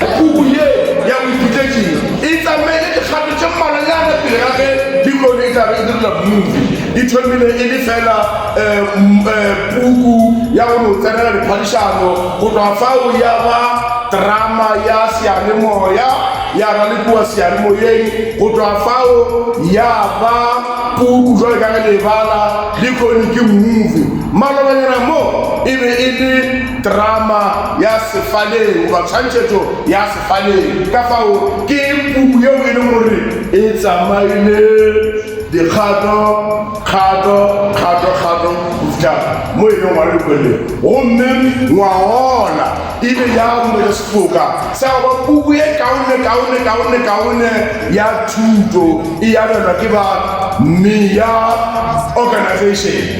Puku ye ya boiphutetši e tsamaile dikgato tše mmalwanyana pele ga ge bibele e tla be e direlwa movie. E thomile e le feela puku ya go no tsenela diphadišano, go tloga fao ya ba drama ya seyalemoya, ya ralekiwa seyalemoyeng, go tloga fao ya ba puku bjalo ka ge le e bala lehono ke movie. Malobanyana mo e be e le. Terama ya sefaleng goba tshwantšhetšo ya sefaleng. Ka fao, ke puku yeo e lego gore e tsamaile dikgato, kgato, kgato, kgato, go fihla mo e leng gore kwele. Gomme ngwagola e be ya bolela sefoka sa go ba puku e kaone, kaone, kaone, kaone ya thuto e abelwa ke ba Meya Organization.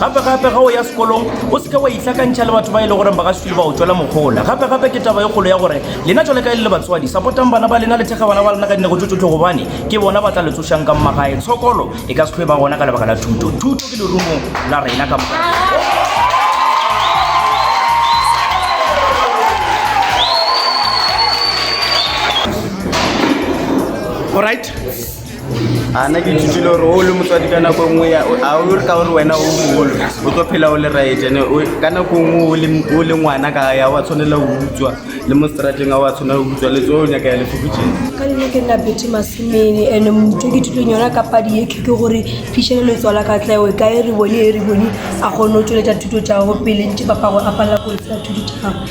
gape-gape ga o ya sekolong o seke wa itlhakantšha le batho ba e le goreng ba ga sekile ba o tswela mokgola gape-gape ke taba e kgolo ya gore lena jale ka e le le batswadi sapotang bana ba lena le thekga bana ba lena ka dinego tso tsotlhe gobane ke bona ba tla le tsošang ka mmagae tshokolo e ka setlhoe ba gona ka lebaka la thuto thuto ke lerumong la rena ka All right. a na ke ithutile gore o le motswadi ka nako nngwe ya a o re ka gore wena o mogolo o tlo phela o le right ene ka nako nngwe o le ngwana ka ya wa tshwanela go utswa le mo strateng a wa tshwanela go utswa le tso o nyaka ya lefokotšeng ka lene ke nna bethe masemene ene motho ke thutong yona ka padi ye ke gore fišhele le tswala ka tlaeo ka e re bone e re bone a kgone go tsweletša thuto tša gago pele ntse papago a palela go etsa thuto tša gago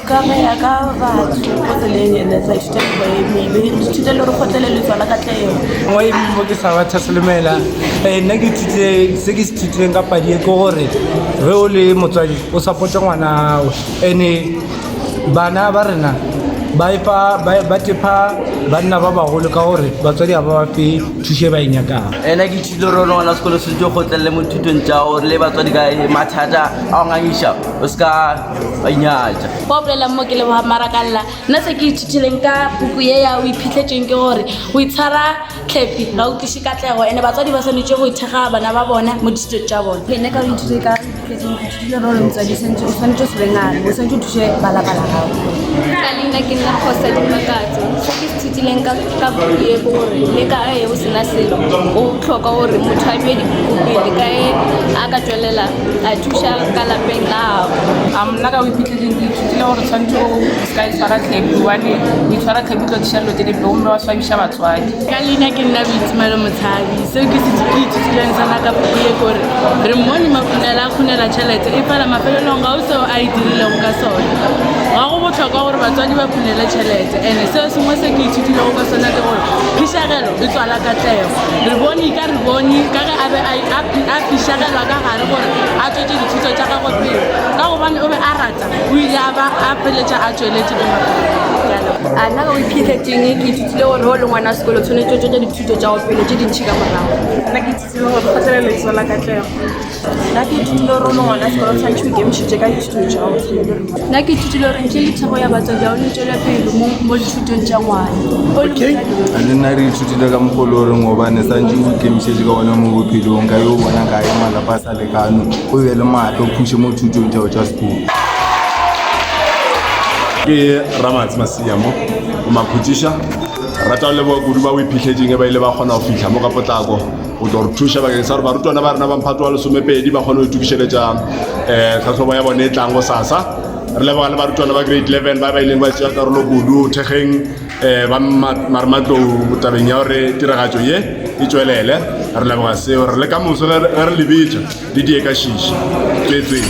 Ka go ya ka batho ko tseleng ene sa ithute go eme be ithute le gore kgotlele le tswala ka tleo mo e mo ke sa batha selomela eh, nna ke ithutile se ke se ithutileng ka padi e ke gore ge o le motswadi o supporte ngwana gago ene bana ba rena ba epa ba ba tepa banna ba bagolo ka gore batswadi ga ba ba fe thušo e ba e nyakang ena ke ithutile gore one ngwana sekolo se tse kgotlelele mo thutong tša gore le batswadi ka mathata a o ngangiša o se ka nyatša ba bolelang mo ke leboga marakalela nna se ke ithutileng ka puku ye ya o iphitlhetseng ke gore o itshwara tlhepi ga o tliše katlego ande batswadi ba swanetse go ithekga bana ba bona mo dithuto tša bone ene ka o ithute ka iphitlhetsengdile role motswadi santse o swanetse o sebengane o swanetse o thuse balabala gago ka leina ke nna kgosa dimakatso se ke ithutileng ka puku ye ke gore le ka e o sena selo o tlhoka gore motho a due dipuku pele ka e a ka tswelela a thuša ka lapeng la gago a mna ka o iphitlheleng ke ithutile gore tshwanetse o seka e tshwara tlhepi gobane o itshwara tlhepi tlo diša dilo tse di blo mme wa swabiša batswadi ka leina ke nna boitsemalo motshabi seo ke se ke ithutileng sona ka puku ye kore re mmone makhunela a khunela tšhelete e fela mafelelong ga o seo a e dirilego ka sone ga go botlhokwa gore batswadi ba khunele tšhelete and-e seo sengwe se ke ithutilego ka sona ke gore phišagelo e tswala katlego re bone a re bone ka ge a be a pišagelwa ka gare gore a tswetse dithuto tša gagwe pele ka gobane o be a rata o ile a ba a pheletša a tsweletse ke a nna ka go iphitlhetseng ke ithutile gore o le ngwana wa sekolo tshwanetse o tswetse dithuto tša go pele tse dintšhi ka morago nna ke ithutile gore kgotlelelo ke tswela katlego nna ke ithutile gore o ngwana sekolo tshwanetse o ikemišitše ka dithuto jao nna ke ithutile gore ntle le thego ya batswadi ao le tswele pele mo dithutong tša ngwana le nna re ithutile ka mogolo goreng gobane santse o ikemišetse ka one mo bophelong ka yo o bona kae malapa a sa lekano o be le maatla o phuse mo thutong tšao tša sekolo ke ramatsi masiamo o makhutiša rata leboa kudu ba o iphitlhetseng e ba ile ba kgona go fitlha mo ka potlako go tlo re thuša bakeng sa gore barutwana ba rena ba mphato wa lesomepedi ba kgone go itokišeletša um eh, tlhatlhobo ya bone e tlang go sasa re leboga le barutwana ba grade 11 ba ba ileng ba tšea karolo kudu thekgeng um ba marematlou tabeng ya gore tiragatšo ye e tswelele re leboga seo re le ka moso ge re lebetša le die ka šiši tswetsweng